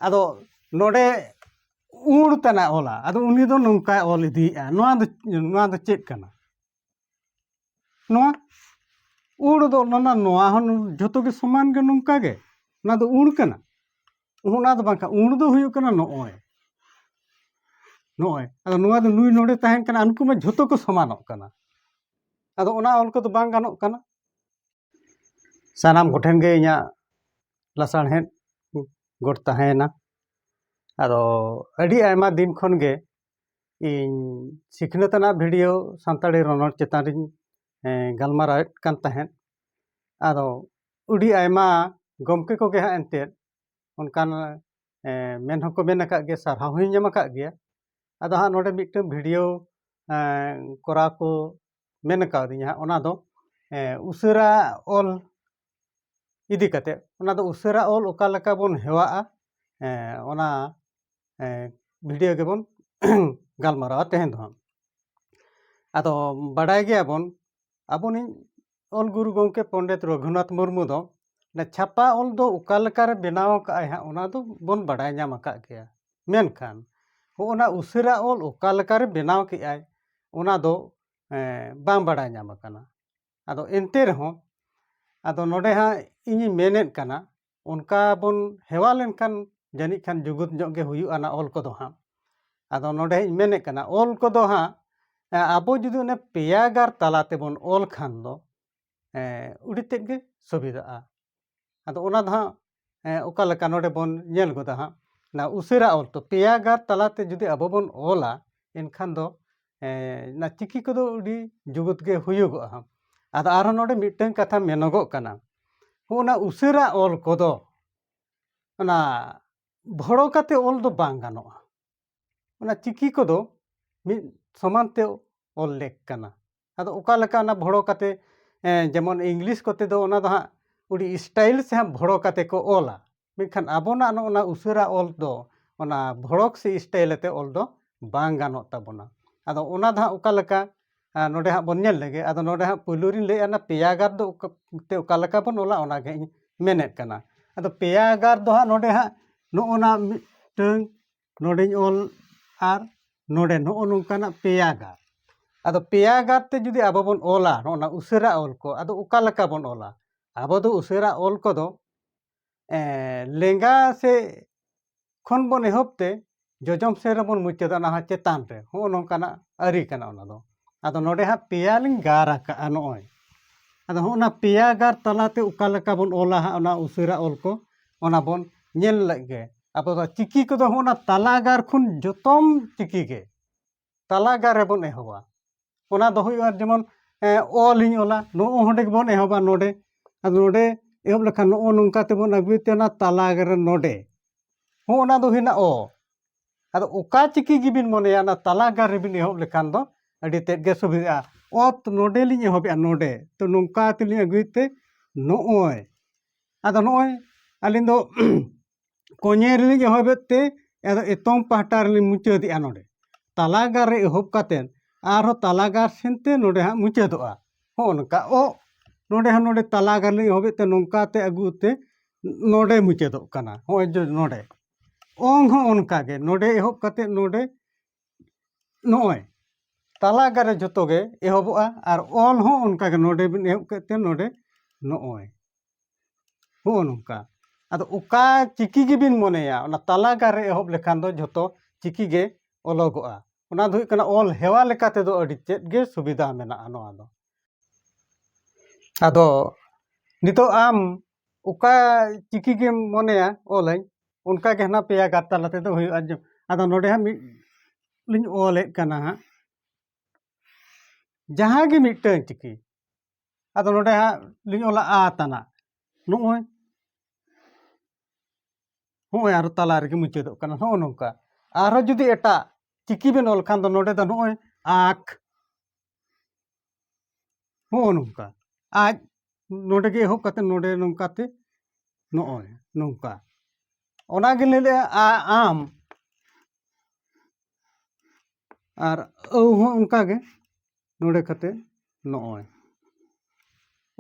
ᱟᱫᱚ ᱱᱚᱰᱮ ᱩᱲ ᱛᱟᱱᱟ ᱚᱞᱟ ᱟᱫᱚ ᱩᱱᱤ ᱫᱚ ᱱᱚᱝᱠᱟᱭ ᱚᱞ ᱤᱫᱤᱭᱮᱫᱼᱟ ᱱᱚᱣᱟ ᱫᱚ ᱱᱚᱣᱟ ᱫᱚ ᱪᱮᱫ ᱠᱟᱱᱟ ᱱᱚᱣᱟ ᱩᱲ ᱫᱚ ᱚᱱᱟ ᱱᱚᱣᱟ ᱦᱚᱸ ᱡᱷᱚᱛᱚ ᱜᱮ ᱥᱚᱢᱟᱱ ᱜᱮ ᱱᱚᱝᱠᱟ ᱜᱮ ᱚᱱᱟ ᱫᱚ ᱩᱲ ᱠᱟᱱᱟ ᱚᱱᱟ ᱫᱚ ᱵᱟᱝᱠᱷᱟᱱ ᱩᱲ ᱫᱚ ᱦᱩᱭᱩᱜ ᱠᱟᱱᱟ ᱱᱚᱜᱼᱚᱭ ᱱᱚᱜᱼᱚᱭ ᱟᱫᱚ ᱱᱚᱣᱟ ᱫᱚ ᱱᱩᱭ ᱱᱚᱰᱮ ᱛᱟᱦᱮᱱ ᱠᱟᱱᱟ ᱩᱱᱠᱩ ᱢᱟ ᱡᱷᱚᱛᱚ ᱠᱚ ᱥᱚᱢᱟᱱᱚᱜ ᱠᱟᱱᱟ ᱟᱫᱚ ᱚᱱᱟ ᱚᱞ ᱠᱚᱫᱚ ᱵᱟᱝ ᱜᱟᱱᱚᱜ ᱠᱟᱱᱟ ᱥᱟᱱᱟᱢ ᱠᱚᱴᱷᱮᱱ ᱜᱮ ᱤᱧᱟᱹᱜ ᱞᱟᱥᱟᱬᱦᱮᱫ ᱜᱚᱴ ᱛᱟᱦᱮᱸᱭᱮᱱᱟ ᱟᱫᱚ ᱟᱹᱰᱤ ᱟᱭᱢᱟ ᱫᱤᱱ ᱠᱷᱚᱱ ᱜᱮ ᱤᱧ ᱥᱤᱠᱷᱱᱟᱹᱛ ᱟᱱᱟᱜ ᱵᱷᱤᱰᱤᱭᱳ ᱥᱟᱱᱛᱟᱲᱤ ᱨᱚᱱᱚᱲ ᱪᱮᱛᱟᱱ ᱨᱤᱧ ᱜᱟᱞᱢᱟᱨᱟᱣᱮᱫ ᱠᱟᱱ ᱛᱟᱦᱮᱸᱫ ᱟᱫᱚ ᱟᱹᱰᱤ ᱟᱭᱢᱟ ᱜᱚᱢᱠᱮ ᱠᱚᱜᱮ ᱦᱟᱸᱜ ᱮᱱᱛᱮᱫ ᱚᱱᱠᱟᱱ ᱢᱮᱱ ᱦᱚᱸᱠᱚ ᱢᱮᱱ ᱟᱠᱟᱫ ᱜᱮᱭᱟ ᱥᱟᱨᱦᱟᱣ ᱦᱚᱸᱧ ᱧᱟᱢ ᱟᱠᱟᱫ ᱜᱮᱭᱟ ᱟᱫᱚ ᱦᱟᱸᱜ ᱱᱚᱰᱮ ᱢᱤᱫᱴᱟᱹᱝ ᱵᱷᱤᱰᱤᱭᱳ ᱠᱚᱨᱟᱣ ᱠᱚ ᱢᱮᱱ ᱠᱟᱣᱫᱤᱧᱟ ᱦᱟᱸᱜ ᱚᱱᱟ ᱫᱚ ᱩᱥᱟᱹᱨᱟ ᱚᱞ ᱤᱫᱤ ᱠᱟᱛᱮᱫ ᱚᱱᱟ ᱫᱚ ᱩᱥᱟᱹᱨᱟ ᱚᱞ ᱚᱠᱟ ᱞᱮᱠᱟ ᱵᱚᱱ ᱦᱮᱣᱟᱜᱼᱟ ᱚᱱᱟ ᱵᱷᱤᱰᱤᱭᱳ ᱜᱮᱵᱚᱱ ᱜᱟᱞᱢᱟᱨᱟᱣᱟ ᱛᱮᱦᱮᱧ ᱫᱚ ᱦᱟᱸᱜ ᱟᱫᱚ ᱵᱟᱰᱟᱭ ᱜᱮᱭᱟᱵᱚᱱ ᱟᱵᱚᱱᱤᱡ ᱚᱞ ᱜᱩᱨᱩ ᱜᱚᱢᱠᱮ ᱯᱚᱱᱰᱤᱛ ᱨᱚᱜᱷᱩᱱᱟᱛᱷ ᱢᱩᱨᱢᱩ ᱫᱚ ᱪᱷᱟᱯᱟ ᱚᱞ ᱫᱚ ᱚᱠᱟ ᱞᱮᱠᱟᱨᱮ ᱵᱮᱱᱟᱣ ᱟᱠᱟᱫ ᱟᱭ ᱦᱟᱸᱜ ᱚᱱᱟ ᱫᱚᱵᱚᱱ ᱵᱟᱰᱟᱭ ᱧᱟᱢ ᱟᱠᱟᱫ ᱜᱮᱭᱟ ᱢᱮᱱᱠᱷᱟᱱ ᱦᱚᱜᱼᱚᱭ ᱱᱟ ᱩᱥᱟᱹᱨᱟ ᱚᱞ ᱚᱠᱟ ᱞᱮᱠᱟᱨᱮ ᱵᱮᱱᱟᱣ ᱠᱮᱜᱼᱟᱭ ᱚᱱᱟ ᱫᱚ ᱵᱟᱝ ᱵᱟᱲᱟᱭ ᱧᱟᱢ ᱟᱠᱟᱱᱟ ᱟᱫᱚ ᱮᱱᱛᱮ ᱨᱮᱦᱚᱸ ᱟᱫᱚ ᱱᱚᱰᱮ ᱦᱟᱸᱜ ᱤᱧᱤᱧ ᱢᱮᱱᱮᱫ ᱠᱟᱱᱟ ᱚᱱᱠᱟ ᱵᱚᱱ ᱦᱮᱣᱟ ᱞᱮᱱᱠᱷᱟᱱ ᱡᱟᱹᱱᱤᱡ ᱠᱷᱟᱱ ᱡᱩᱜᱩᱫ ᱧᱚᱜ ᱜᱮ ᱦᱩᱭᱩᱜᱼᱟ ᱚᱱᱟ ᱚᱞ ᱠᱚᱫᱚ ᱦᱟᱸᱜ ᱟᱫᱚ ᱱᱚᱰᱮᱧ ᱢᱮᱱᱮᱫ ᱠᱟᱱᱟ ᱚᱞ ᱠᱚᱫᱚ ᱦᱟᱸᱜ ᱟᱵᱚ ᱡᱩᱫᱤ ᱚᱱᱮ ᱯᱮᱭᱟ ᱜᱟᱨ ᱛᱟᱞᱟ ᱛᱮᱵᱚᱱ ᱚᱞ ᱠᱷᱟᱱ ᱫᱚ ᱟᱹᱰᱤ ᱛᱮᱫ ᱜᱮ ᱥᱩᱵᱤᱫᱟᱜᱼᱟ ᱟᱫᱚ ᱚᱱᱟ ᱫᱚ ᱦᱟᱸᱜ ᱚᱠᱟ ᱞᱮᱠᱟ ᱱᱚᱰᱮ ᱵᱚᱱ ᱧᱮᱞ ᱜᱚᱫᱟ ᱦᱟᱸᱜ ᱚᱱᱟ ᱩᱥᱟᱹᱨᱟ ᱚᱞ ᱛᱮ ᱯᱮᱭᱟ ᱜᱟᱨ ᱛᱟᱞᱟᱛᱮ ᱡᱩᱫᱤ ᱟᱵᱚ ᱵᱚᱱ ᱚᱞᱟ ᱮᱱᱠᱷᱟᱱ ᱫᱚ ᱚᱱᱟ ᱪᱤᱠᱤ ᱠᱚᱫᱚ ᱟᱹᱰᱤ ᱡᱩᱜᱩᱫ ᱜᱮ ᱦᱩᱭᱩᱜᱚᱜᱼᱟ ᱦᱟᱸᱜ ᱟᱫᱚ ᱟᱨᱦᱚᱸ ᱱᱚᱰᱮ ᱢᱤᱫᱴᱟᱹᱝ ᱠᱟᱛᱷᱟ ᱢᱮᱱᱚᱜᱚᱜ ᱠᱟᱱᱟ ᱦᱚᱸᱜᱼᱚ ᱚᱱᱟ ᱩᱥᱟᱹᱨᱟ ᱚᱞ ᱠᱚᱫᱚ ᱚᱱᱟ ᱵᱷᱚᱲᱚ ᱠᱟᱛᱮ ᱚᱞ ᱫᱚ ᱵᱟᱝ ᱜᱟᱱᱚᱜᱼᱟ ᱚᱱᱟ ᱪᱤᱠᱤ ᱠᱚᱫᱚ ᱢᱤᱫ ᱥᱚᱢᱟᱱ ᱛᱮ ᱚᱞ ᱞᱮᱠ ᱠᱟᱱᱟ ᱟᱫᱚ ᱚᱠᱟ ᱞᱮᱠᱟ ᱚᱱᱟ ᱵᱷᱚᱲᱚ ᱠᱟᱛᱮᱫ ᱡᱮᱢᱚᱱ ᱤᱝᱞᱤᱥ ᱠᱚᱛᱮ ᱫᱚ ᱚᱱᱟ ᱫᱚ ᱦᱟᱸᱜ ᱟᱹᱰᱤ ᱥᱴᱟᱭᱤᱞ ᱥᱮ ᱦᱟᱸᱜ ᱵᱷᱚᱲᱚ ᱠᱟᱛᱮᱫ ᱠᱚ ᱚᱞᱟ ᱢᱮᱱᱠᱷᱟᱱ ᱟᱵᱚᱱᱟᱜ ᱱᱚᱜᱼᱚ ᱱᱟ ᱩᱥᱟᱹᱨᱟ ᱚᱞ ᱫᱚ ᱚᱱᱟ ᱵᱷᱚᱲᱚᱠ ᱥᱮ ᱥᱴᱟᱭᱤᱞ ᱟᱛᱮᱫ ᱚᱞ ᱫᱚ ᱵᱟᱝ ᱜᱟᱱᱚᱜ ᱛᱟᱵᱚᱱᱟ ᱟᱫᱚ ᱚᱱᱟ ᱫᱚ ᱦᱟᱸᱜ ᱚᱠᱟ ᱞᱮᱠᱟ ᱱᱚᱰᱮ ᱦᱟᱸᱜ ᱵᱚᱱ ᱧᱮᱞ ᱞᱮᱜᱮ ᱟᱫᱚ ᱱᱚᱰᱮ ᱦᱟᱸᱜ ᱯᱳᱭᱞᱳ ᱨᱤᱧ ᱞᱟᱹᱭᱮᱫᱼᱟ ᱚᱱᱟ ᱯᱮᱭᱟ ᱜᱟᱨ ᱫᱚ ᱛᱮ ᱚᱠᱟ ᱞᱮᱠᱟ ᱵᱚᱱ ᱚᱞᱟ ᱚᱱᱟᱜᱮ ᱤᱧ ᱢᱮᱱᱮᱫ ᱠᱟᱱᱟ ᱟᱫᱚ ᱯᱮᱭᱟ ᱜᱟᱨ ᱫᱚ ᱦᱟᱸᱜ ᱱᱚᱰᱮ ᱦᱟᱸᱜ ᱱᱚᱜᱼᱚ ᱱᱟ ᱢᱤᱫᱴᱟᱹᱝ ᱱᱚᱰᱮᱧ ᱚᱞ ᱟᱨ ᱱᱚᱰᱮ ᱱᱚᱜᱼᱚ ᱱᱚᱝᱠᱟᱱᱟᱜ ᱯᱮᱭᱟ ᱜᱟᱨ ᱟᱫᱚ ᱯᱮᱭᱟ ᱜᱟᱨ ᱛᱮ ᱡᱩᱫᱤ ᱟᱵᱚ ᱵᱚᱱ ᱚᱞᱟ ᱱᱚᱜᱼᱚ ᱱᱟ ᱩᱥᱟᱹᱨᱟ ᱚᱞ ᱠᱚ ᱟᱫᱚ ᱚᱠᱟ ᱞᱮᱠᱟ ᱵᱚᱱ ᱚᱞᱟ ᱟᱵᱚ ᱫᱚ ᱩᱥᱟᱹᱨᱟ ᱚᱞ ᱠᱚᱫᱚ ᱞᱮᱸᱜᱟ ᱥᱮ ᱠᱷᱚᱱ ᱵᱚᱱ ᱮᱦᱚᱵ ᱛᱮ ᱡᱚᱡᱚᱢ ᱥᱮᱫ ᱨᱮᱵᱚᱱ ᱢᱩᱪᱟᱹᱫᱟ ᱚᱱᱟ ᱦᱚᱸ ᱪᱮᱛᱟᱱ ᱨᱮ ᱱᱚᱜᱼᱚ ᱱᱚᱝᱠᱟᱱᱟᱜ ᱟᱹᱨᱤ ᱠᱟᱱᱟ ᱚᱱᱟ ᱫᱚ ᱟᱫᱚ ᱱᱚᱰᱮ ᱦᱟᱸᱜ ᱯᱮᱭᱟ ᱞᱤᱧ ᱜᱟᱨ ᱟᱠᱟᱜᱼᱟ ᱱᱚᱜᱼᱚᱭ ᱟᱫᱚ ᱦᱚᱸᱜᱼᱚ ᱱᱟ ᱯᱮᱭᱟ ᱜᱟᱨ ᱛᱟᱞᱟᱛᱮ ᱚᱠᱟ ᱞᱮᱠᱟ ᱵᱚᱱ ᱚᱞᱟ ᱦᱟᱸᱜ ᱚᱱᱟ ᱩᱥᱟᱹᱨᱟ ᱚᱞ ᱠᱚ ᱚᱱᱟ ᱵᱚᱱ ᱧᱮᱞ ᱞᱮᱜ ᱜᱮ ᱟᱵᱚ ᱫᱚ ᱪᱤᱠᱤ ᱠᱚᱫᱚ ᱦᱚᱸᱜᱼᱚ ᱱᱟ ᱛᱟᱞᱟ ᱜᱟᱨ ᱠᱷᱚᱱ ᱡᱚᱛᱚᱢ ᱪᱤᱠᱤ ᱜᱮ ᱛᱟᱞᱟ ᱜᱟᱨ ᱨᱮᱵᱚᱱ ᱮᱦᱚᱵᱟ ᱚᱱᱟ ᱫᱚ ᱦᱩᱭᱩᱜᱼᱟ ᱡᱮᱢᱚᱱ ᱚᱞ ᱤᱧ ᱚᱞᱟ ᱱᱚᱜᱼᱚ ᱱᱚᱰᱮ ᱜᱮᱵᱚᱱ ᱮᱦᱚᱵᱟ ᱱᱚᱰᱮ ᱟᱫᱚ ᱱᱚᱰᱮ ᱮᱦᱚᱵ ᱞᱮᱠᱷᱟᱱ ᱱᱚᱜᱼᱚ ᱱᱚᱝᱠᱟ ᱛᱮᱵᱚᱱ ᱟᱹᱜᱩᱭ ᱛᱮ ᱚᱱᱟ ᱛᱟᱞᱟ ᱜᱟᱨ ᱨᱮ ᱱᱚᱰᱮ ᱦᱚᱸ ᱚᱱᱟ ᱫᱚ ᱦᱩᱭᱱᱟ ᱚ ᱟᱫᱚ ᱚᱠᱟ ᱪᱤᱠᱤ ᱜᱮᱵᱤᱱ ᱢᱚᱱᱮᱭᱟ ᱚᱱᱟ ᱛᱟᱞᱟ ᱜᱟᱨ ᱨᱮᱵᱤᱱ ᱮᱦᱚᱵ ᱞᱮᱠᱷᱟᱱ ᱫᱚ ᱟᱹᱰᱤ ᱛᱮᱫ ᱜᱮ ᱥᱩᱵᱤᱫᱷᱟᱜᱼᱟ ᱚᱛ ᱱᱚᱰᱮ ᱞᱤᱧ ᱮᱦᱚᱵᱮᱜᱼᱟ ᱱᱚᱰᱮ ᱛᱚ ᱱᱚᱝᱠᱟ ᱛᱮᱞᱤᱧ ᱟᱹᱜᱩᱭ ᱛᱮ ᱱᱚᱜᱼᱚᱭ ᱟᱫᱚ ᱱᱚᱜᱼᱚᱭ ᱟᱹᱞᱤᱧ ᱫᱚ ᱠᱚᱧᱮ ᱨᱮᱞᱤᱧ ᱮᱦᱚᱵᱮᱫ ᱛᱮ ᱟᱫᱚ ᱮᱛᱚᱢ ᱯᱟᱦᱴᱟ ᱨᱮᱞᱤᱧ ᱢᱩᱪᱟᱹᱫᱮᱜᱼᱟ ᱱᱚᱰᱮ ᱛᱟᱞᱟ ᱜᱟᱨ ᱨᱮ ᱮᱦᱚᱵ ᱠᱟᱛᱮᱫ ᱟᱨᱦᱚᱸ ᱛᱟᱞᱟ ᱜᱟᱨ ᱥᱮᱱ ᱛᱮ ᱱᱚᱰᱮ ᱦᱟᱸᱜ ᱢᱩᱪᱟᱹᱫᱚᱜᱼᱟ ᱦᱚᱸᱜᱼᱚ ᱱᱚᱝᱠᱟ ᱚ ᱱᱚᱰᱮ ᱦᱚᱸ ᱱᱚᱰᱮ ᱛᱟᱞᱟ ᱜᱟᱨ ᱞᱤᱧ ᱮᱦᱚᱵᱮᱫ ᱛᱮ ᱱᱚᱝᱠᱟ ᱛᱮ ᱟᱹᱜᱩ ᱛᱮ ᱱᱚᱰᱮ ᱢᱩᱪᱟᱹᱫᱚᱜ ᱠᱟᱱᱟ ᱦᱚᱸᱜᱼᱚᱭ ᱡᱮ ᱱᱚᱰᱮ ᱚᱝ ᱦᱚᱸ ᱚᱱᱠᱟ ᱜᱮ ᱱᱚᱰᱮ ᱮᱦᱚᱵ ᱠᱟᱛᱮᱫ ᱱᱚᱰᱮ ᱱᱚᱜᱼᱚᱭ ᱛᱟᱞᱟ ᱟᱠᱟᱨ ᱨᱮ ᱡᱚᱛᱚ ᱜᱮ ᱮᱦᱚᱵᱚᱜᱼᱟ ᱟᱨ ᱚᱞ ᱦᱚᱸ ᱚᱱᱠᱟ ᱜᱮ ᱱᱚᱰᱮ ᱵᱤᱱ ᱮᱦᱚᱵ ᱠᱮᱫ ᱛᱮ ᱱᱚᱰᱮ ᱱᱚᱜᱼᱚᱭ ᱦᱚᱸᱜᱼᱚ ᱱᱚᱝᱠᱟ ᱟᱫᱚ ᱚᱠᱟ ᱪᱤᱠᱤ ᱜᱮᱵᱤᱱ ᱢᱚᱱᱮᱭᱟ ᱚᱱᱟ ᱛᱟᱞᱟ ᱜᱟᱨ ᱨᱮ ᱮᱦᱚᱵ ᱞᱮᱠᱷᱟᱱ ᱫᱚ ᱡᱷᱚᱛᱚ ᱪᱤᱠᱤ ᱜᱮ ᱚᱞᱚᱜᱚᱜᱼᱟ ᱚᱱᱟ ᱫᱚ ᱦᱩᱭᱩᱜ ᱠᱟᱱᱟ ᱚᱞ ᱦᱮᱣᱟ ᱞᱮᱠᱟ ᱛᱮᱫᱚ ᱟᱹᱰᱤ ᱛᱮᱫ ᱜᱮ ᱥᱩᱵᱤᱫᱷᱟ ᱢᱮᱱᱟᱜᱼᱟ ᱱᱚᱣᱟ ᱫᱚ ᱟᱫᱚ ᱱᱤᱛᱚᱜ ᱟᱢ ᱚᱠᱟ ᱪᱤᱠᱤ ᱜᱮᱢ ᱢᱚᱱᱮᱭᱟ ᱚᱞᱟᱹᱧ ᱚᱱᱠᱟ ᱜᱮ ᱦᱟᱱᱟ ᱯᱮᱭᱟ ᱜᱟᱨ ᱛᱟᱞᱟ ᱛᱮᱫᱚ ᱦᱩᱭᱩᱜᱼᱟ ᱟᱫᱚ ᱱᱚᱰᱮ ᱦᱟᱸᱜ ᱢᱤᱫ ᱞᱤᱧ ᱚᱞᱮᱫ ᱠᱟᱱᱟ ᱦᱟᱸᱜ ᱡᱟᱦᱟᱸ ᱜᱮ ᱢᱤᱫᱴᱟᱹᱝ ᱪᱤᱠᱤ ᱟᱫᱚ ᱱᱚᱰᱮ ᱦᱟᱸᱜ ᱞᱤᱧ ᱚᱞᱟ ᱟ ᱛᱟᱱᱟ ᱱᱚᱜᱼᱚᱭ ᱱᱚᱜᱼᱚᱭ ᱟᱨᱚ ᱛᱟᱞᱟ ᱨᱮᱜᱮ ᱢᱩᱪᱟᱹᱫᱚᱜ ᱠᱟᱱᱟ ᱱᱚᱜᱼᱚ ᱱᱚᱝᱠᱟ ᱟᱨᱦᱚᱸ ᱡᱩᱫᱤ ᱮᱴᱟᱜ ᱪᱤᱠᱤ ᱵᱮᱱ ᱚᱞ ᱠᱷᱟᱱ ᱫᱚ ᱱᱚᱰᱮ ᱫᱚ ᱱᱚᱜᱼᱚᱭ ᱟᱸᱠ ᱦᱚᱸᱜᱼᱚ ᱱᱚᱝᱠᱟ ᱟᱡ ᱱᱚᱰᱮ ᱜᱮ ᱮᱦᱚᱵ ᱠᱟᱛᱮ ᱱᱚᱰᱮ ᱱᱚᱝᱠᱟ ᱛᱮ ᱱᱚᱜᱼᱚᱭ ᱱᱚᱝᱠᱟ ᱚᱱᱟ ᱜᱮ ᱞᱟᱹᱭ ᱞᱮᱜᱼᱟ ᱟ ᱟᱢ ᱟᱨ ᱟᱹᱣ ᱦᱚᱸ ᱚᱱᱠᱟ ᱜᱮ ᱱᱚᱰᱮ ᱠᱟᱛᱮ ᱱᱚᱜᱼᱚᱭ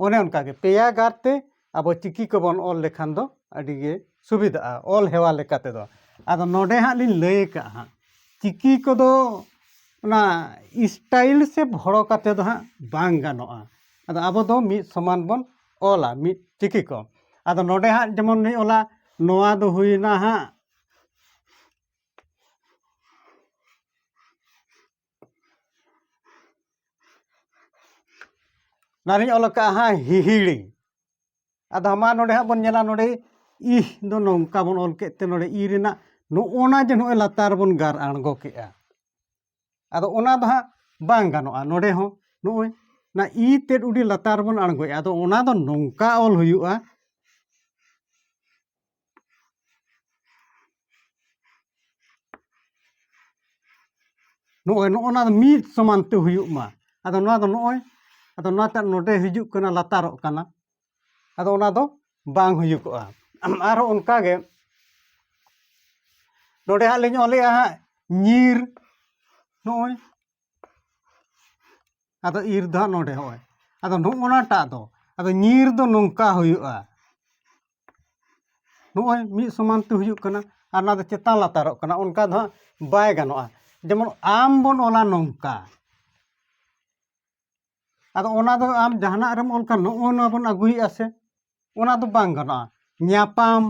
ᱚᱱᱮ ᱚᱱᱠᱟ ᱜᱮ ᱯᱮᱭᱟ ᱜᱟᱨ ᱛᱮ ᱟᱵᱚ ᱪᱤᱠᱤ ᱠᱚᱵᱚᱱ ᱚᱞ ᱞᱮᱠᱷᱟᱱ ᱫᱚ ᱟᱹᱰᱤ ᱜᱮ ᱥᱩᱵᱤᱫᱟᱜᱼᱟ ᱚᱞ ᱦᱮᱣᱟ ᱞᱮᱠᱟ ᱛᱮᱫᱚ ᱟᱫᱚ ᱱᱚᱰᱮ ᱦᱟᱸᱜ ᱞᱤᱧ ᱞᱟᱹᱭ ᱠᱟᱜᱼᱟ ᱦᱟᱸᱜ ᱪᱤᱠᱤ ᱠᱚᱫᱚ ᱚᱱᱟ ᱥᱴᱟᱭᱤᱞ ᱥᱮ ᱵᱷᱚᱲᱚ ᱠᱟᱛᱮ ᱫᱚ ᱦᱟᱸᱜ ᱵᱟᱝ ᱜᱟᱱᱚᱜᱼᱟ ᱟᱫᱚ ᱟᱵᱚ ᱫᱚ ᱢᱤᱫ ᱥᱚᱢᱟᱱ ᱵᱚᱱ ᱚᱞᱟ ᱢᱤᱫ ᱪᱤᱠᱤ ᱠᱚ ᱟᱫᱚ ᱱᱚᱰᱮ ᱦᱟᱸᱜ ᱡᱮᱢᱚᱱ ᱞᱤᱧ ᱚᱞᱟ ᱱᱚᱣᱟ ᱫᱚ ᱦᱩᱭᱱᱟ ᱦᱟᱸᱜ ᱚᱱᱟᱨᱤᱧ ᱚᱞ ᱠᱟᱜᱼᱟ ᱦᱟᱸᱜ ᱦᱤᱦᱤᱲᱤ ᱟᱫᱚ ᱢᱟ ᱱᱚᱰᱮ ᱦᱟᱸᱜ ᱵᱚᱱ ᱧᱮᱞᱟ ᱱᱚᱰᱮ ᱤᱦ ᱫᱚ ᱱᱚᱝᱠᱟ ᱵᱚᱱ ᱚᱞ ᱠᱮᱫ ᱛᱮ ᱱᱚᱰᱮ ᱤ ᱨᱮᱱᱟᱜ ᱱᱚᱜᱼᱚᱱᱟ ᱡᱮ ᱱᱚᱜᱼᱚᱭ ᱞᱟᱛᱟᱨ ᱵᱚᱱ ᱜᱟᱨ ᱟᱬᱜᱚ ᱠᱮᱜᱼᱟ ᱟᱫᱚ ᱚᱱᱟ ᱫᱚ ᱦᱟᱸᱜ ᱵᱟᱝ ᱜᱟᱱᱚᱜᱼᱟ ᱱᱚᱰᱮ ᱦᱚᱸ ᱱᱚᱜᱼᱚᱭ ᱚᱱᱟ ᱤ ᱛᱮᱫ ᱩᱰᱤ ᱞᱟᱛᱟᱨ ᱵᱚᱱ ᱟᱬᱜᱚᱭᱟ ᱟᱫᱚ ᱚᱱᱟ ᱫᱚ ᱱᱚᱝᱠᱟ ᱚᱞ ᱦᱩᱭᱩᱜᱼᱟ ᱱᱚᱜᱼᱚᱭ ᱱᱚᱜᱼᱚ ᱱᱟ ᱢᱤᱫ ᱥᱚᱢᱟᱱ ᱛᱮ ᱦᱩᱭᱩᱜ ᱢᱟ ᱟᱫᱚ ᱱᱚᱣᱟ ᱫᱚ ᱱᱚᱜᱼᱚᱭ ᱟᱫᱚ ᱱᱚᱣᱟᱴᱟᱜ ᱱᱚᱰᱮ ᱦᱤᱡᱩᱜ ᱠᱟᱱᱟ ᱞᱟᱛᱟᱨᱚᱜ ᱠᱟᱱᱟ ᱟᱫᱚ ᱚᱱᱟ ᱫᱚ ᱵᱟᱝ ᱦᱩᱭᱩᱜᱚᱜᱼᱟ ᱟᱨᱦᱚᱸ ᱚᱱᱠᱟᱜᱮ ᱱᱚᱰᱮ ᱦᱟᱸᱜ ᱞᱤᱧ ᱚᱞᱮᱜᱼᱟ ᱦᱟᱸᱜ ᱧᱤᱨ ᱱᱚᱜᱼᱚᱭ ᱟᱫᱚ ᱤᱨ ᱫᱚ ᱦᱟᱸᱜ ᱱᱚᱰᱮ ᱦᱚᱸᱜᱼᱚᱭ ᱟᱫᱚ ᱱᱚᱜᱼᱚ ᱱᱟᱴᱟᱜ ᱫᱚ ᱟᱫᱚ ᱧᱤᱨ ᱫᱚ ᱱᱚᱝᱠᱟ ᱦᱩᱭᱩᱜᱼᱟ ᱱᱚᱜᱼᱚᱭ ᱢᱤᱫ ᱥᱚᱢᱟᱱ ᱛᱮ ᱦᱩᱭᱩᱜ ᱠᱟᱱᱟ ᱟᱨ ᱱᱚᱣᱟ ᱫᱚ ᱪᱮᱛᱟᱱ ᱞᱟᱛᱟᱨᱚᱜ ᱠᱟᱱᱟ ᱚᱱᱠᱟ ᱫᱚ ᱦᱟᱸᱜ ᱵᱟᱭ ᱜᱟᱱᱚᱜᱼᱟ ᱡᱮᱢᱚᱱ ᱟᱢ ᱵᱚᱱ ᱚᱞᱟ ᱱᱚᱝᱠᱟ ᱟᱫᱚ ᱚᱱᱟ ᱫᱚ ᱟᱢ ᱡᱟᱦᱟᱱᱟᱜ ᱨᱮᱢ ᱚᱞ ᱠᱷᱟᱱ ᱱᱚᱜᱼᱚ ᱱᱚᱣᱟ ᱵᱚᱱ ᱟᱹᱜᱩᱭᱮᱫᱼᱟ ᱥᱮ ᱚᱱᱟ ᱫᱚ ᱵᱟᱝ ᱜᱟᱱᱚᱜᱼᱟ ᱧᱟᱯᱟᱢ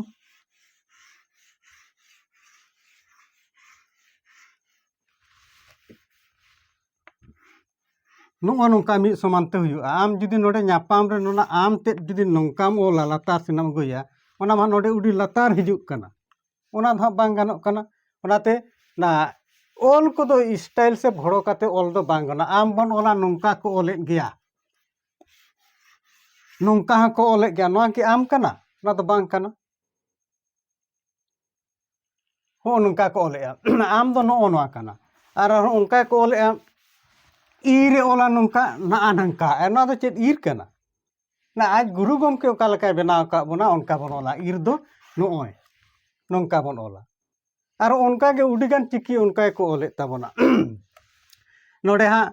ᱱᱚᱜᱼᱚ ᱱᱚᱝᱠᱟ ᱢᱤᱫ ᱥᱚᱢᱟᱱ ᱛᱮ ᱦᱩᱭᱩᱜᱼᱟ ᱟᱢ ᱡᱩᱫᱤ ᱱᱚᱰᱮ ᱧᱟᱯᱟᱢ ᱨᱮ ᱚᱱᱟ ᱟᱢ ᱛᱮᱫ ᱡᱩᱫᱤ ᱱᱚᱝᱠᱟᱢ ᱚᱞᱟ ᱞᱟᱛᱟᱨ ᱥᱮᱱᱟᱜ ᱮᱢ ᱟᱹᱜᱩᱭᱟ ᱚᱱᱟ ᱢᱟ ᱱᱚᱰᱮ ᱟᱹᱰᱤ ᱞᱟᱛᱟᱨ ᱦᱤᱡᱩᱜ ᱠᱟᱱᱟ ᱚᱱᱟ ᱫᱚ ᱦᱟᱸᱜ ᱵᱟᱝ ᱜᱟᱱᱚᱜ ᱠᱟᱱᱟ ᱚᱱᱟᱛᱮ ᱚᱱᱟ ᱚᱞ ᱠᱚᱫᱚ ᱥᱴᱟᱭᱤᱞ ᱥᱮ ᱵᱷᱚᱲᱚ ᱠᱟᱛᱮ ᱚᱞ ᱫᱚ ᱵᱟᱝ ᱜᱟᱱᱚᱜᱼᱟ ᱟᱢ ᱵᱚᱱ ᱚᱞᱟ ᱱᱚᱝᱠᱟ ᱠᱚ ᱚᱞᱮᱫ ᱜᱮᱭᱟ ᱱᱚᱝᱠᱟ ᱦᱚᱸᱠᱚ ᱚᱞᱮᱫ ᱜᱮᱭᱟ ᱱᱚᱣᱟ ᱠᱤ ᱟᱢ ᱠᱟᱱᱟ ᱚᱱᱟ ᱫᱚ ᱵᱟᱝ ᱠᱟᱱᱟ ᱦᱚᱸᱜᱼᱚ ᱱᱚᱝᱠᱟ ᱠᱚ ᱚᱞᱮᱜᱼᱟ ᱟᱢ ᱫᱚ ᱱᱚᱜᱼᱚ ᱱᱚᱣᱟ ᱠᱟᱱᱟ ᱟᱨ ᱟᱨᱦᱚᱸ ᱚᱱᱠᱟ ᱜᱮᱠᱚ ᱚᱞᱮᱜᱼᱟ ᱤ ᱨᱮ ᱚᱞᱟ ᱱᱚᱝᱠᱟ ᱱᱟᱜᱼᱟ ᱱᱟᱝᱠᱟ ᱟᱨ ᱱᱚᱣᱟ ᱫᱚ ᱪᱮᱫ ᱤᱨ ᱠᱟᱱᱟ ᱱᱟ ᱟᱡ ᱜᱩᱨᱩ ᱜᱚᱢᱠᱮ ᱚᱠᱟ ᱞᱮᱠᱟᱭ ᱵᱮᱱᱟᱣ ᱟᱠᱟᱫ ᱵᱚᱱᱟ ᱚᱱᱠᱟ ᱵᱚᱱ ᱚᱞᱟ ᱤᱨ ᱫᱚ ᱱᱚᱜᱼᱚᱭ ᱱᱚᱝᱠᱟ ᱵᱚᱱ ᱚᱞᱟ ᱟᱨ ᱚᱱᱠᱟ ᱜᱮ ᱟᱹᱰᱤᱜᱟᱱ ᱪᱤᱠᱤ ᱚᱱᱠᱟ ᱜᱮᱠᱚ ᱚᱞᱮᱫ ᱛᱟᱵᱚᱱᱟ ᱱᱚᱰᱮ ᱦᱟᱸᱜ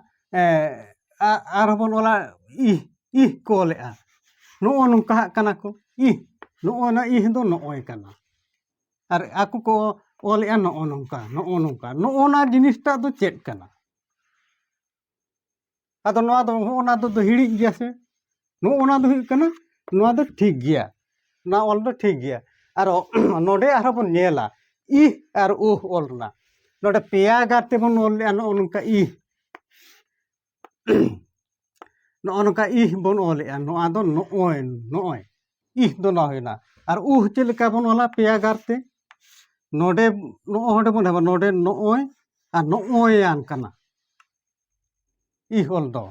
ᱟᱨᱦᱚᱸ ᱵᱚᱱ ᱚᱞᱟ ᱤᱦ ᱤᱦ ᱠᱚ ᱚᱞᱮᱜᱼᱟ ᱱᱚᱜᱼᱚ ᱱᱚᱝᱠᱟ ᱦᱟᱸᱜ ᱠᱟᱱᱟ ᱠᱚ ᱤᱦ ᱱᱚᱜᱼᱚ ᱱᱟ ᱤᱦ ᱫᱚ ᱱᱚᱜᱼᱚᱭ ᱠᱟᱱᱟ ᱟᱨ ᱟᱠᱚ ᱠᱚ ᱚᱞᱮᱜᱼᱟ ᱱᱚᱜᱼᱚ ᱱᱚᱝᱠᱟ ᱱᱚᱜᱼᱚ ᱱᱚᱝᱠᱟ ᱱᱚᱜᱼᱚ ᱱᱟ ᱡᱤᱱᱤᱥᱴᱟᱜ ᱫᱚ ᱪᱮᱫ ᱠᱟᱱᱟ ᱟᱫᱚ ᱱᱚᱣᱟ ᱫᱚ ᱦᱚᱸᱜᱼᱚ ᱱᱟ ᱫᱚ ᱦᱤᱲᱤᱡ ᱜᱮᱭᱟ ᱥᱮ ᱱᱚᱜᱼᱚ ᱱᱟ ᱫᱚ ᱦᱩᱭᱩᱜ ᱠᱟᱱᱟ ᱱᱚᱣᱟ ᱫᱚ ᱴᱷᱤᱠ ᱜᱮᱭᱟ ᱱᱚᱣᱟ ᱚᱞ ᱫᱚ ᱴᱷᱤᱠ ᱜᱮᱭᱟ ᱟᱨ ᱱᱚᱰᱮ ᱟᱨᱦᱚᱸ ᱵᱚᱱ ᱧᱮᱞᱟ ᱤᱦ ᱟᱨ ᱩᱦ ᱚᱞ ᱨᱮᱱᱟᱜ ᱱᱚᱰᱮ ᱯᱮᱭᱟ ᱜᱟᱨ ᱛᱮᱵᱚᱱ ᱚᱞ ᱞᱮᱜᱼᱟ ᱱᱚᱜᱼᱚ ᱱᱚᱝᱠᱟ ᱤᱦ ᱱᱚᱜᱼᱚ ᱱᱚᱝᱠᱟ ᱤᱦ ᱵᱚᱱ ᱚᱞᱮᱜᱼᱟ ᱱᱚᱣᱟ ᱫᱚ ᱱᱚᱜᱼᱚᱭ ᱱᱚᱜᱼᱚᱭ ᱤᱦ ᱫᱚ ᱱᱚᱣᱟ ᱦᱩᱭᱱᱟ ᱟᱨ ᱩᱦ ᱪᱮᱫ ᱞᱮᱠᱟ ᱵᱚᱱ ᱚᱞᱟ ᱯᱮᱭᱟ ᱜᱟᱨ ᱛᱮ ᱱᱚᱰᱮ ᱱᱚᱜᱼᱚᱭ ᱱᱚᱰᱮ ᱵᱚᱱ ᱮᱢᱟ ᱱᱚᱰᱮ ᱱᱚᱜᱼᱚᱭ ᱟᱨ ᱱᱚᱜᱼᱚᱭᱟᱱ ᱠᱟᱱᱟ ᱤᱦ ᱚᱞ ᱫᱚ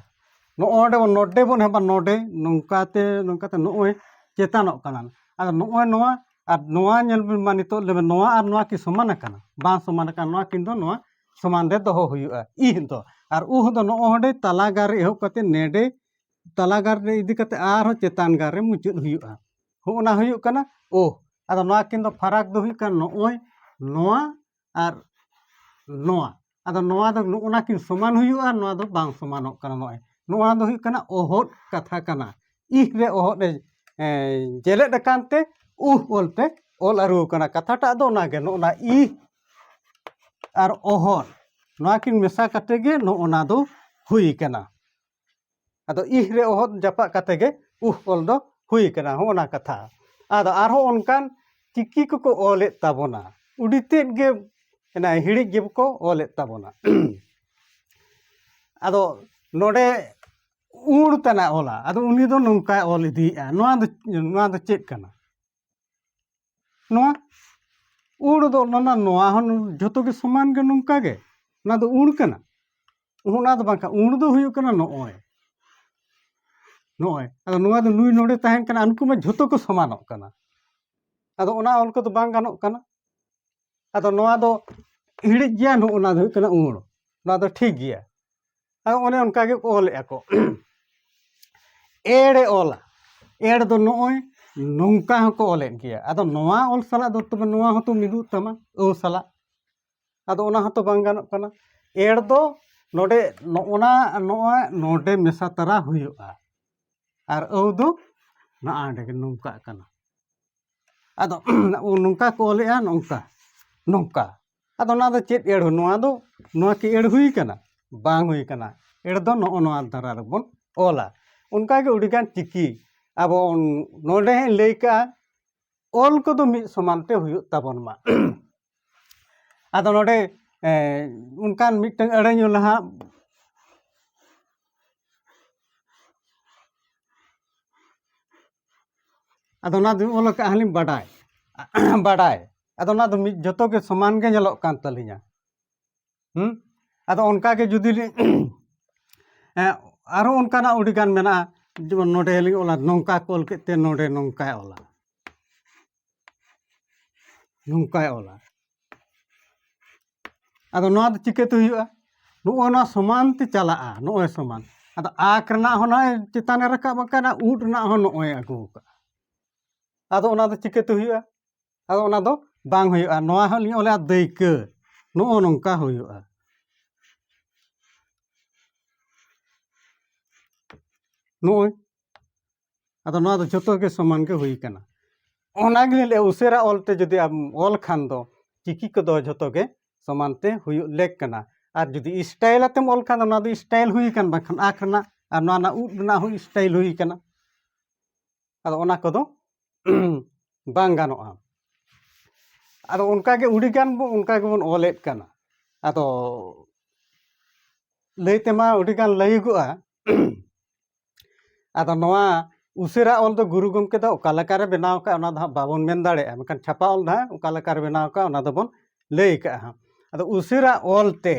ᱱᱚᱜᱼᱚᱭ ᱱᱚᱰᱮ ᱵᱚᱱ ᱱᱚᱰᱮ ᱵᱚᱱ ᱮᱢᱟ ᱱᱚᱰᱮ ᱱᱚᱝᱠᱟᱛᱮ ᱱᱚᱝᱠᱟᱛᱮ ᱱᱚᱜᱼᱚᱭ ᱪᱮᱛᱟᱱᱚᱜ ᱠᱟᱱᱟ ᱟᱫᱚ ᱱᱚᱜᱼᱚᱭ ᱱᱚᱣᱟ ᱟᱨ ᱱᱚᱣᱟ ᱧᱮᱞ ᱵᱤᱱ ᱢᱟ ᱱᱤᱛᱚᱜ ᱞᱟᱹᱭ ᱵᱤᱱ ᱱᱚᱣᱟ ᱟᱨ ᱱᱚᱣᱟ ᱠᱤ ᱥᱚᱢᱟᱱ ᱟᱠᱟᱱᱟ ᱵᱟᱝ ᱥᱚᱢᱟᱱ ᱟᱠᱟᱱᱟ ᱱᱚᱣᱟ ᱠᱤᱱ ᱫᱚ ᱱᱚᱣᱟ ᱥᱚᱢᱟᱱ ᱨᱮ ᱫᱚᱦᱚ ᱦᱩᱭᱩᱜᱼᱟ ᱤᱦ ᱫᱚ ᱟᱨ ᱩᱦ ᱫᱚ ᱱᱚᱜᱼᱚ ᱱᱚᱰᱮ ᱛᱟᱞᱟ ᱜᱟᱨ ᱨᱮ ᱮᱦᱚᱵ ᱠᱟᱛᱮ ᱱᱮᱰᱮ ᱛᱟᱞᱟ ᱜᱟᱨ ᱨᱮ ᱤᱫᱤ ᱠᱟᱛᱮ ᱟᱨᱦᱚᱸ ᱪᱮᱛᱟᱱ ᱜᱟᱨ ᱨᱮ ᱢᱩᱪᱟᱹᱫ ᱦᱩᱭᱩᱜᱼᱟ ᱦᱚᱸ ᱚᱱᱟ ᱦᱩᱭᱩᱜ ᱠᱟᱱᱟ ᱳᱦ ᱟᱫᱚ ᱱᱚᱣᱟ ᱠᱤᱱ ᱫᱚ ᱯᱷᱟᱨᱟᱠ ᱫᱚ ᱦᱩᱭᱩᱜ ᱠᱟᱱᱟ ᱱᱚᱜᱼᱚᱭ ᱱᱚᱣᱟ ᱟᱨ ᱱᱚᱣᱟ ᱟᱫᱚ ᱱᱚᱣᱟ ᱫᱚ ᱱᱚᱜᱼᱚ ᱱᱟ ᱠᱤᱱ ᱥᱚᱢᱟᱱ ᱦᱩᱭᱩᱜᱼᱟ ᱱᱚᱣᱟ ᱫᱚ ᱵᱟᱝ ᱥᱚᱢᱟᱱᱚᱜ ᱠᱟᱱᱟ ᱱᱚᱜᱼᱚᱭ ᱱᱚᱣᱟ ᱫᱚ ᱦᱩᱭᱩᱜ ᱠᱟᱱᱟ ᱚᱦᱚᱫ ᱠᱟᱛᱷᱟ ᱠᱟᱱᱟ ᱤᱦ ᱨᱮ ᱚᱦᱚᱫ ᱮ ᱡᱮᱞᱮᱫ ᱟᱠᱟᱱ ᱛᱮ ᱩᱦ ᱚᱞᱛᱮ ᱚᱞ ᱟᱹᱨᱩ ᱟᱠᱟᱱᱟ ᱠᱟᱛᱷᱟᱴᱟᱜ ᱫᱚ ᱚᱱᱟᱜᱮ ᱱᱚᱜᱼᱚ ᱱᱟ ᱤᱦ ᱟᱨ ᱚᱦᱚᱨ ᱱᱚᱣᱟ ᱠᱤᱱ ᱢᱮᱥᱟ ᱠᱟᱛᱮ ᱜᱮ ᱱᱚᱜᱼᱚ ᱱᱟ ᱫᱚ ᱦᱩᱭ ᱠᱟᱱᱟ ᱟᱫᱚ ᱤᱦ ᱨᱮ ᱚᱦᱚᱫ ᱡᱟᱯᱟᱜ ᱠᱟᱛᱮ ᱜᱮ ᱩᱦ ᱚᱞ ᱫᱚ ᱦᱩᱭ ᱠᱟᱱᱟ ᱦᱚᱸᱜᱼᱚ ᱱᱟ ᱠᱟᱛᱷᱟ ᱟᱫᱚ ᱟᱨᱦᱚᱸ ᱚᱱᱠᱟᱱ ᱪᱤᱠᱤ ᱠᱚᱠᱚ ᱚᱞᱮᱫ ᱛᱟᱵᱚᱱᱟ ᱟᱹᱰᱤ ᱛᱮᱫ ᱜᱮ ᱚᱱᱟ ᱦᱤᱲᱤᱡ ᱜᱮᱠᱚ ᱚᱞᱮᱫ ᱛᱟᱵᱚᱱᱟ ᱟᱫᱚ ᱱᱚᱰᱮ ᱩᱲ ᱛᱟᱱᱟᱜ ᱚᱞᱟ ᱟᱫᱚ ᱩᱱᱤ ᱫᱚ ᱱᱚᱝᱠᱟᱭ ᱚᱞ ᱤᱫᱤᱭᱮᱜᱼᱟ ᱱᱚᱣᱟ ᱫᱚ ᱱᱚᱣᱟ ᱫᱚ ᱪᱮᱫ ᱠᱟᱱᱟ ᱱᱚᱣᱟ ᱩᱲ ᱫᱚ ᱚᱱᱟ ᱱᱚᱣᱟ ᱦᱚᱸ ᱡᱷᱚᱛᱚ ᱜᱮ ᱥᱚᱢᱟᱱ ᱜᱮ ᱱᱚᱝᱠᱟ ᱜᱮ ᱚᱱᱟ ᱫᱚ ᱩᱲ ᱠᱟᱱᱟ ᱚᱱᱟ ᱫᱚ ᱵᱟᱝᱠᱷᱟᱱ ᱩᱲ ᱫᱚ ᱦᱩᱭᱩᱜ ᱠᱟᱱᱟ ᱱᱚᱜᱼᱚᱭ ᱱᱚᱜᱼᱚᱭ ᱟᱫᱚ ᱱᱚᱣᱟ ᱫᱚ ᱱᱩᱭ ᱱᱚᱰᱮ ᱛᱟᱦᱮᱱ ᱠᱟᱱᱟ ᱩᱱᱠᱩ ᱢᱟ ᱡᱷᱚᱛᱚ ᱠᱚ ᱥᱚᱢᱟᱱᱚᱜ ᱠᱟᱱᱟ ᱟᱫᱚ ᱚᱱᱟ ᱚᱞ ᱠᱚᱫᱚ ᱵᱟᱝ ᱜᱟᱱᱚᱜ ᱠᱟᱱᱟ ᱟᱫᱚ ᱱᱚᱣᱟ ᱫᱚ ᱤᱬᱤᱡ ᱜᱮᱭᱟ ᱱᱚᱜᱼᱚ ᱱᱟ ᱫᱚ ᱦᱩᱭᱩᱜ ᱠᱟᱱᱟ ᱩᱬ ᱱᱚᱣᱟ ᱫᱚ ᱴᱷᱤᱠ ᱜᱮᱭᱟ ᱟᱫᱚ ᱚᱱᱮ ᱚᱱᱠᱟ ᱜᱮ ᱚᱞᱮᱜᱼᱟ ᱠᱚ ᱮᱲᱮ ᱚᱞᱟ ᱮᱲ ᱫᱚ ᱱᱚᱜᱼᱚᱭ ᱱᱚᱝᱠᱟ ᱦᱚᱸᱠᱚ ᱚᱞᱮᱫ ᱜᱮᱭᱟ ᱟᱫᱚ ᱱᱚᱣᱟ ᱚᱞ ᱥᱟᱞᱟᱜ ᱫᱚ ᱛᱚᱵᱮ ᱱᱚᱣᱟ ᱦᱚᱸᱛᱚ ᱢᱤᱫᱚᱜ ᱛᱟᱢᱟ ᱟᱹ ᱥᱟᱞᱟᱜ ᱟᱫᱚ ᱚᱱᱟ ᱦᱚᱸᱛᱚ ᱵᱟᱝ ᱜᱟᱱᱚᱜ ᱠᱟᱱᱟ ᱮᱲ ᱫᱚ ᱱᱚᱰᱮ ᱱᱚᱜᱼᱚᱱᱟ ᱱᱚᱣᱟ ᱱᱚᱰᱮ ᱢᱮᱥᱟ ᱛᱟᱨᱟ ᱦᱩᱭᱩᱜᱼᱟ ᱟᱨ ᱟᱹᱣ ᱫᱚ ᱱᱚᱜᱼᱚᱸᱰᱮ ᱜᱮ ᱱᱚᱝᱠᱟᱜ ᱠᱟᱱᱟ ᱟᱫᱚ ᱱᱚᱝᱠᱟ ᱠᱚ ᱚᱞᱮᱜᱼᱟ ᱱᱚᱝᱠᱟ ᱱᱚᱝᱠᱟ ᱟᱫᱚ ᱚᱱᱟ ᱫᱚ ᱪᱮᱫ ᱟᱹᱲᱟᱹ ᱱᱚᱣᱟ ᱫᱚ ᱱᱚᱣᱟ ᱠᱤ ᱟᱹᱲᱟᱹ ᱦᱩᱭ ᱠᱟᱱᱟ ᱵᱟᱝ ᱦᱩᱭ ᱠᱟᱱᱟ ᱟᱹᱲᱟᱹ ᱫᱚ ᱱᱚᱜᱼᱚ ᱱᱚᱣᱟ ᱫᱷᱟᱨᱟ ᱨᱮᱵᱚᱱ ᱚᱞᱟ ᱚᱱᱠᱟ ᱜᱮ ᱟᱹᱰᱤ ᱜᱟᱱ ᱪᱤᱠᱤ ᱟᱵᱚ ᱱᱚᱰᱮ ᱦᱟᱸᱜ ᱤᱧ ᱞᱟᱹᱭ ᱠᱟᱜᱼᱟ ᱚᱞ ᱠᱚᱫᱚ ᱢᱤᱫ ᱥᱚᱢᱟᱱ ᱛᱮ ᱦᱩᱭᱩᱜ ᱛᱟᱵᱚᱱ ᱢᱟ ᱟᱫᱚ ᱱᱚᱰᱮ ᱚᱱᱠᱟᱱ ᱢᱤᱫᱴᱟᱝ ᱟᱹᱲᱟᱹ ᱧᱩ ᱞᱟᱦᱟ ᱟᱫᱚ ᱚᱱᱟ ᱫᱚ ᱚᱞ ᱠᱟᱜᱼᱟ ᱞᱤᱧ ᱵᱟᱰᱟᱭ ᱵᱟᱰᱟᱭ ᱟᱫᱚ ᱚᱱᱟ ᱫᱚ ᱢᱤᱫ ᱡᱚᱛᱚ ᱜᱮ ᱥᱚᱢᱟᱱ ᱜᱮ ᱧᱮᱞᱚᱜ ᱠᱟᱱ ᱛᱟᱹᱞᱤᱧᱟ ᱦᱮᱸ ᱟᱫᱚ ᱚᱱᱠᱟ ᱜᱮ ᱡᱩᱫᱤ ᱞᱤᱧ ᱟᱨᱚ ᱚᱱᱠᱟᱱᱟᱜ ᱟᱹᱰᱤᱜᱟᱱ ᱢᱮᱱᱟᱜᱼᱟ ᱡᱮᱢᱚᱱ ᱱᱚᱰᱮ ᱞᱤᱧ ᱚᱞᱟ ᱱᱚᱝᱠᱟ ᱠᱚ ᱚᱞ ᱠᱮᱫ ᱛᱮ ᱱᱚᱰᱮ ᱱᱚᱝᱠᱟᱭ ᱚᱞᱟ ᱱᱚᱝᱠᱟᱭ ᱚᱞᱟ ᱟᱫᱚ ᱱᱚᱣᱟ ᱫᱚ ᱪᱤᱠᱟᱹᱛᱮ ᱦᱩᱭᱩᱜᱼᱟ ᱱᱚᱜᱼᱚᱭ ᱱᱚᱣᱟ ᱥᱚᱢᱟᱱ ᱛᱮ ᱪᱟᱞᱟᱜᱼᱟ ᱱᱚᱜᱼᱚᱭ ᱥᱚᱢᱟᱱ ᱟᱫᱚ ᱟᱸᱠ ᱨᱮᱱᱟᱜ ᱦᱚᱸ ᱱᱚᱜᱼᱚᱭ ᱪᱮᱛᱟᱱᱮ ᱨᱟᱠᱟᱵ ᱟᱠᱟᱱᱟ ᱩᱫ ᱨᱮᱱᱟᱜ ᱦᱚᱸ ᱱᱚᱜᱼᱚᱭ ᱟᱹᱜᱩ ᱟᱠᱟᱫᱼᱟ ᱟᱫᱚ ᱚᱱᱟ ᱫᱚ ᱪᱤᱠᱟᱹᱛᱮ ᱦᱩᱭᱩᱜᱼᱟ ᱟᱫᱚ ᱚᱱᱟ ᱫᱚ ᱵᱟᱝ ᱦᱩᱭᱩᱜᱼᱟ ᱱᱚᱣᱟ ᱦᱚᱸ ᱞᱤᱧ ᱚᱞᱟ ᱫᱟᱹᱭᱠᱟᱹ ᱱᱚᱜᱼᱚ ᱱᱚᱝᱠᱟ ᱦᱩᱭᱩᱜᱼᱟ ᱱᱚᱜᱼᱚᱭ ᱟᱫᱚ ᱱᱚᱣᱟ ᱫᱚ ᱡᱚᱛᱚ ᱜᱮ ᱥᱚᱢᱟᱱ ᱜᱮ ᱦᱩᱭ ᱠᱟᱱᱟ ᱚᱱᱟ ᱜᱮᱞᱤᱧ ᱞᱟᱹᱭᱮᱫᱼᱟ ᱩᱥᱟᱹᱨᱟ ᱚᱞ ᱛᱮ ᱡᱩᱫᱤ ᱟᱢ ᱚᱞ ᱠᱷᱟᱱ ᱫᱚ ᱪᱤᱠᱤ ᱠᱚᱫᱚ ᱡᱚᱛᱚ ᱜᱮ ᱥᱚᱢᱟᱱ ᱛᱮ ᱦᱩᱭᱩᱜ ᱞᱮᱠ ᱠᱟᱱᱟ ᱟᱨ ᱡᱩᱫᱤ ᱥᱴᱟᱭᱤᱞ ᱟᱛᱮᱢ ᱚᱞ ᱠᱷᱟᱱ ᱫᱚ ᱱᱚᱣᱟ ᱫᱚ ᱥᱴᱟᱭᱤᱞ ᱦᱩᱭ ᱠᱟᱱ ᱵᱟᱝᱠᱷᱟᱱ ᱟᱸᱠ ᱨᱮᱱᱟᱜ ᱟᱨ ᱱᱚᱣᱟ ᱨᱮᱱᱟᱜ ᱩᱫ ᱨᱮᱱᱟᱜ ᱦᱚᱸ ᱥᱴᱟᱭᱤᱞ ᱦᱩᱭ ᱠᱟᱱᱟ ᱟᱫᱚ ᱚᱱᱟ ᱠᱚᱫᱚ ᱵᱟᱝ ᱜᱟᱱᱚᱜᱼᱟ ᱟᱫᱚ ᱚᱱᱠᱟᱜᱮ ᱟᱹᱰᱤᱜᱟᱱ ᱵᱚᱱ ᱚᱱᱠᱟ ᱜᱮᱵᱚᱱ ᱚᱞᱮᱫ ᱠᱟᱱᱟ ᱟᱫᱚ ᱞᱟᱹᱭ ᱛᱮᱢᱟ ᱟᱹᱰᱤᱜᱟᱱ ᱞᱟᱹᱭᱟᱹᱜᱚᱜᱼᱟ ᱟᱫᱚ ᱱᱚᱣᱟ ᱩᱥᱟᱹᱨᱟ ᱚᱞ ᱫᱚ ᱜᱩᱨᱩ ᱜᱚᱢᱠᱮ ᱫᱚ ᱚᱠᱟ ᱞᱮᱠᱟᱨᱮ ᱵᱮᱱᱟᱣ ᱠᱟᱜᱼᱟ ᱚᱱᱟ ᱫᱚ ᱦᱟᱸᱜ ᱵᱟᱵᱚᱱ ᱢᱮᱱ ᱫᱟᱲᱮᱭᱟᱜᱼᱟ ᱢᱮᱱᱠᱷᱟᱱ ᱪᱷᱟᱯᱟ ᱚᱞ ᱫᱚ ᱦᱟᱸᱜ ᱚᱠᱟ ᱞᱮᱠᱟᱨᱮ ᱵᱮᱱᱟᱣ ᱠᱟᱜᱼᱟ ᱚᱱᱟ ᱫᱚᱵᱚᱱ ᱞᱟᱹᱭ ᱠᱟᱜᱼᱟ ᱦᱟᱸᱜ ᱟᱫᱚ ᱩᱥᱟᱹᱨᱟ ᱚᱞ ᱛᱮ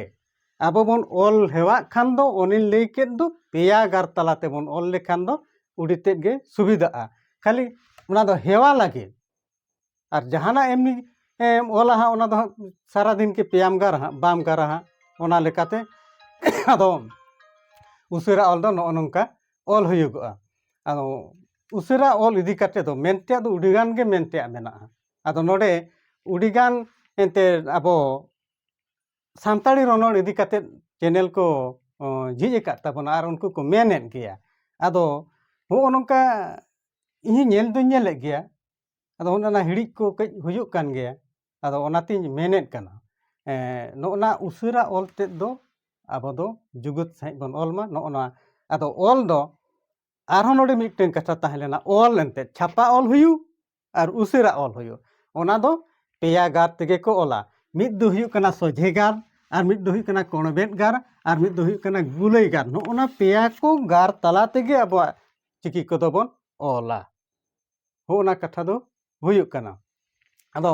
ᱟᱵᱚ ᱵᱚᱱ ᱚᱞ ᱦᱮᱣᱟᱜ ᱠᱷᱟᱱ ᱫᱚ ᱚᱱᱮᱧ ᱞᱟᱹᱭ ᱠᱮᱫ ᱫᱚ ᱯᱮᱭᱟ ᱜᱟᱨ ᱛᱟᱞᱟ ᱛᱮᱵᱚᱱ ᱚᱞ ᱞᱮᱠᱷᱟᱱ ᱫᱚ ᱟᱹᱰᱤ ᱛᱮᱫ ᱜᱮ ᱥᱩᱵᱤᱫᱷᱟᱜᱼᱟ ᱠᱷᱟᱹᱞᱤ ᱚᱱᱟ ᱫᱚ ᱦᱮᱣᱟ ᱞᱟᱹᱜᱤᱫ ᱟᱨ ᱡᱟᱦᱟᱱᱟᱜ ᱮᱢᱱᱤ ᱮᱢ ᱚᱞᱟ ᱦᱟᱸᱜ ᱚᱱᱟ ᱫᱚ ᱦᱟᱸᱜ ᱥᱟᱨᱟ ᱫᱤᱱ ᱜᱮ ᱯᱮᱭᱟᱢ ᱜᱟᱨᱟ ᱦᱟᱸᱜ ᱵᱟᱢ ᱜᱟᱨᱟ ᱦᱟᱸᱜ ᱚᱱᱟ ᱞᱮᱠᱟᱛᱮ ᱟᱫᱚ ᱩᱥᱟᱹᱨᱟ ᱚᱞ ᱫᱚ ᱱᱚᱜᱼᱚ ᱱᱚᱝᱠᱟ ᱚᱞ ᱦᱩᱭᱩᱜᱚᱜᱼᱟ ᱟᱫᱚ ᱩᱥᱟᱹᱨᱟ ᱚᱞ ᱤᱫᱤ ᱠᱟᱛᱮᱫ ᱫᱚ ᱢᱮᱱ ᱛᱮᱭᱟᱜ ᱫᱚ ᱟᱹᱰᱤ ᱜᱟᱱ ᱜᱮ ᱢᱮᱱ ᱛᱮᱭᱟᱜ ᱢᱮᱱᱟᱜᱼᱟ ᱟᱫᱚ ᱱᱚᱰᱮ ᱟᱹᱰᱤ ᱜᱟᱱ ᱮᱱᱛᱮᱫ ᱟᱵᱚ ᱥᱟᱱᱛᱟᱲᱤ ᱨᱚᱱᱚᱲ ᱤᱫᱤ ᱠᱟᱛᱮᱫ ᱪᱮᱱᱮᱞ ᱠᱚ ᱡᱷᱤᱡ ᱟᱠᱟᱫ ᱛᱟᱵᱚᱱᱟ ᱟᱨ ᱩᱱᱠᱩ ᱠᱚ ᱢᱮᱱᱮᱫ ᱜᱮᱭᱟ ᱟᱫᱚ ᱦᱚᱜᱼᱚ ᱱᱚᱝᱠᱟ ᱤᱧ ᱦᱚᱸ ᱧᱮᱞ ᱫᱩᱧ ᱧᱮᱞᱮᱫ ᱜᱮᱭᱟ ᱟᱫᱚ ᱚᱱᱮ ᱚᱱᱟ ᱦᱤᱲᱤᱡ ᱠᱚ ᱠᱟᱹᱡ ᱦᱩᱭᱩᱜ ᱠᱟᱱ ᱜᱮᱭᱟ ᱟᱫᱚ ᱚᱱᱟᱛᱤᱧ ᱢᱮᱱᱮᱫ ᱠᱟᱱᱟ ᱱᱚᱜᱼᱚ ᱱᱟ ᱩᱥᱟᱹᱨᱟ ᱚᱞ ᱛᱮᱫ ᱫᱚ ᱟᱵᱚ ᱫᱚ ᱡᱩᱜᱩᱫ ᱥᱟᱺᱦᱤᱡ ᱵᱚᱱ ᱚᱞ ᱢᱟ ᱱᱚᱜᱼᱚ ᱱᱟ ᱟᱫᱚ ᱚᱞ ᱫᱚ ᱟᱨᱦᱚᱸ ᱱᱚᱰᱮ ᱢᱤᱫᱴᱮᱱ ᱠᱟᱛᱷᱟ ᱛᱟᱦᱮᱸ ᱞᱮᱱᱟ ᱚᱞ ᱮᱱᱛᱮᱫ ᱪᱷᱟᱯᱟ ᱚᱞ ᱦᱩᱭᱩᱜ ᱟᱨ ᱩᱥᱟᱹᱨᱟ ᱚᱞ ᱦᱩᱭᱩᱜ ᱚᱱᱟ ᱫᱚ ᱯᱮᱭᱟ ᱜᱟᱨ ᱛᱮᱜᱮ ᱠᱚ ᱚᱞᱟ ᱢᱤᱫ ᱫᱚ ᱦᱩᱭᱩᱜ ᱠᱟᱱᱟ ᱥᱚᱡᱷᱮ ᱜᱟᱨ ᱟᱨ ᱢᱤᱫ ᱫᱚ ᱦᱩᱭᱩᱜ ᱠᱟᱱᱟ ᱠᱚᱬᱵᱮᱫ ᱜᱟᱨ ᱟᱨ ᱢᱤᱫ ᱫᱚ ᱦᱩᱭᱩᱜ ᱠᱟᱱᱟ ᱜᱩᱞᱟᱹᱭ ᱜᱟᱨ ᱱᱚᱜᱼᱚᱱᱟ ᱯᱮᱭᱟ ᱠᱚ ᱜᱟᱨ ᱛᱟᱞᱟ ᱛᱮᱜᱮ ᱟᱵᱚᱣᱟᱜ ᱪᱤᱠᱤ ᱠᱚᱫᱚ ᱵᱚᱱ ᱚᱞᱟ ᱦᱚᱸᱜᱼᱚᱱᱟ ᱠᱟᱛᱷᱟ ᱫᱚ ᱦᱩᱭᱩᱜ ᱠᱟᱱᱟ ᱟᱫᱚ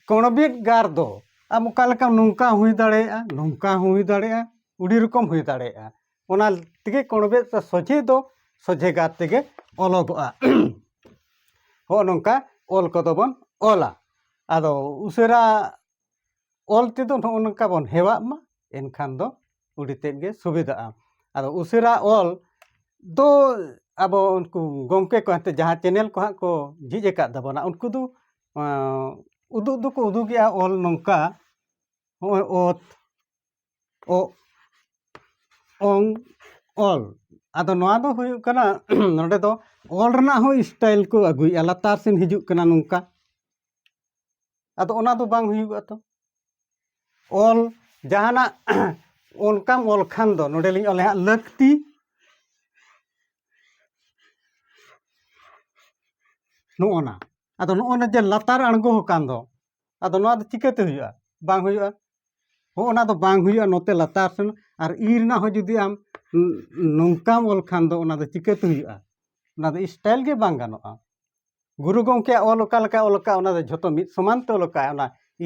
ᱠᱚᱬᱵᱮᱫ ᱜᱟᱨ ᱫᱚ ᱟᱢ ᱚᱠᱟ ᱞᱮᱠᱟ ᱱᱚᱝᱠᱟ ᱦᱩᱭ ᱫᱟᱲᱮᱭᱟᱜᱼᱟ ᱱᱚᱝᱠᱟ ᱦᱩᱭ ᱫᱟᱲᱮᱭᱟᱜᱼᱟ ᱩᱰᱤ ᱨᱚᱠᱚᱢ ᱦᱩᱭ ᱫᱟᱲᱮᱭᱟᱜᱼᱟ ᱚᱱᱟ ᱛᱮᱜᱮ ᱠᱚ ᱚᱰᱚᱠᱮᱫ ᱛᱮ ᱥᱚᱡᱷᱮ ᱫᱚ ᱥᱚᱡᱷᱮ ᱜᱟᱨ ᱛᱮᱜᱮ ᱚᱞᱚᱜᱚᱜᱼᱟ ᱦᱚᱸᱜᱼᱚ ᱱᱚᱝᱠᱟ ᱚᱞ ᱠᱚᱫᱚ ᱵᱚᱱ ᱚᱞᱟ ᱟᱫᱚ ᱩᱥᱟᱹᱨᱟ ᱚᱞ ᱛᱮᱫᱚ ᱱᱚᱜᱼᱚ ᱱᱚᱝᱠᱟ ᱵᱚᱱ ᱦᱮᱣᱟᱜ ᱢᱟ ᱮᱱᱠᱷᱟᱱ ᱫᱚ ᱟᱹᱰᱤ ᱛᱮᱫ ᱜᱮ ᱥᱩᱵᱤᱫᱷᱟᱜᱼᱟ ᱟᱫᱚ ᱩᱥᱟᱹᱨᱟ ᱚᱞ ᱫᱚ ᱟᱵᱚ ᱩᱱᱠᱩ ᱜᱚᱢᱠᱮ ᱠᱚ ᱮᱱᱛᱮᱫ ᱡᱟᱦᱟᱸ ᱪᱮᱱᱮᱞ ᱠᱚ ᱦᱟᱸᱜ ᱠᱚ ᱡᱷᱤᱡ ᱟᱠᱟᱫ ᱛᱟᱵᱚᱱᱟ ᱩᱱᱠᱩ ᱫᱚ ᱩᱫᱩᱜ ᱫᱚᱠᱚ ᱩᱫᱩᱜᱮᱜᱼᱟ ᱚᱞ ᱱᱚᱝᱠᱟ ᱦᱚᱸᱜᱼᱚᱭ ᱚᱛ ᱚᱝ ᱚᱞ ᱟᱫᱚ ᱱᱚᱣᱟ ᱫᱚ ᱦᱩᱭᱩᱜ ᱠᱟᱱᱟ ᱱᱚᱰᱮ ᱫᱚ ᱚᱞ ᱨᱮᱱᱟᱜ ᱦᱚᱸ ᱥᱴᱟᱭᱤᱞ ᱠᱚ ᱟᱹᱜᱩᱭᱮᱫᱼᱟ ᱞᱟᱛᱟᱨ ᱥᱮᱱ ᱦᱤᱡᱩᱜ ᱠᱟᱱᱟ ᱱᱚᱝᱠᱟ ᱟᱫᱚ ᱚᱱᱟ ᱫᱚ ᱵᱟᱝ ᱦᱩᱭᱩᱜᱼᱟ ᱛᱚ ᱚᱞ ᱡᱟᱦᱟᱱᱟᱜ ᱚᱱᱠᱟᱢ ᱚᱞ ᱠᱷᱟᱱ ᱫᱚ ᱱᱚᱰᱮᱞᱤᱧ ᱚᱞᱮ ᱦᱟᱸᱜ ᱞᱟᱹᱠᱛᱤ ᱱᱚᱜᱼᱚᱱᱟ ᱟᱫᱚ ᱱᱚᱜᱼᱚᱱᱟ ᱡᱮ ᱞᱟᱛᱟᱨ ᱟᱬᱜᱚ ᱟᱠᱟᱱ ᱫᱚ ᱟᱫᱚ ᱱᱚᱣᱟ ᱫᱚ ᱪᱤᱠᱟᱹᱛᱮ ᱦᱩᱭᱩᱜᱼᱟ ᱵᱟᱝ ᱦᱩᱭᱩᱜᱼᱟ ᱦᱚᱸ ᱚᱱᱟ ᱫᱚ ᱵᱟᱝ ᱦᱩᱭᱩᱜᱼᱟ ᱱᱚᱛᱮ ᱞᱟᱛᱟᱨ ᱥᱮᱱ ᱟᱨ ᱤ ᱨᱮᱱᱟᱜ ᱦᱚᱸ ᱡᱩᱫᱤ ᱟᱢ ᱱᱚᱝᱠᱟᱢ ᱚᱞ ᱠᱷᱟᱱ ᱫᱚ ᱚᱱᱟ ᱫᱚ ᱪᱤᱠᱟᱹᱛᱮ ᱦᱩᱭᱩᱜᱼᱟ ᱚᱱᱟ ᱫᱚ ᱥᱴᱟᱭᱤᱞ ᱜᱮ ᱵᱟᱝ ᱜᱟᱱᱚᱜᱼᱟ ᱜᱩᱨᱩ ᱜᱚᱢᱠᱮᱭᱟᱜ ᱚᱞ ᱚᱠᱟ ᱞᱮᱠᱟᱭ ᱚᱞ ᱟᱠᱟᱫ ᱚᱱᱟ ᱫᱚ ᱡᱷᱚᱛᱚ ᱢᱤᱫ ᱥᱚᱢᱟᱱ ᱛᱮ ᱚᱞ ᱟᱠᱟᱫ ᱚᱱᱟ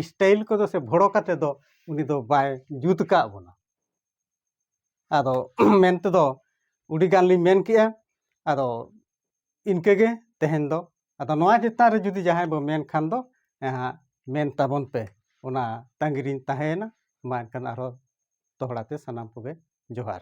ᱥᱴᱟᱭᱤᱞ ᱠᱚᱫᱚ ᱥᱮ ᱵᱷᱚᱲᱚ ᱠᱟᱛᱮ ᱫᱚ ᱩᱱᱤ ᱫᱚ ᱵᱟᱭ ᱡᱩᱛ ᱟᱠᱟᱫ ᱵᱚᱱᱟ ᱟᱫᱚ ᱢᱮᱱ ᱛᱮᱫᱚ ᱩᱰᱤ ᱜᱟᱱ ᱞᱤᱧ ᱢᱮᱱ ᱠᱮᱜᱼᱟ ᱟᱫᱚ ᱤᱱᱠᱟᱹ ᱜᱮ ᱛᱮᱦᱮᱧ ᱫᱚ ᱟᱫᱚ ᱱᱚᱣᱟ ᱪᱮᱛᱟᱱ ᱨᱮ ᱡᱩᱫᱤ ᱡᱟᱦᱟᱸᱭ ᱵᱚ ᱢᱮᱱ ᱠᱷᱟᱱ ᱫᱚ ᱦᱟᱸᱜ ᱢᱮᱱ ᱛᱟᱵᱚᱱ ᱯᱮ ᱚᱱᱟ ᱛᱟᱺᱜᱤ ᱨᱤᱧ ᱛᱟᱦᱮᱸᱭᱮᱱᱟ ᱢᱟ ᱮᱱᱠᱷᱟᱱ ᱟᱨᱦᱚᱸ ᱫᱚᱦᱲᱟ ᱛᱮ ᱥᱟᱱᱟᱢ ᱠᱚᱜᱮ ᱡᱚᱦᱟᱨ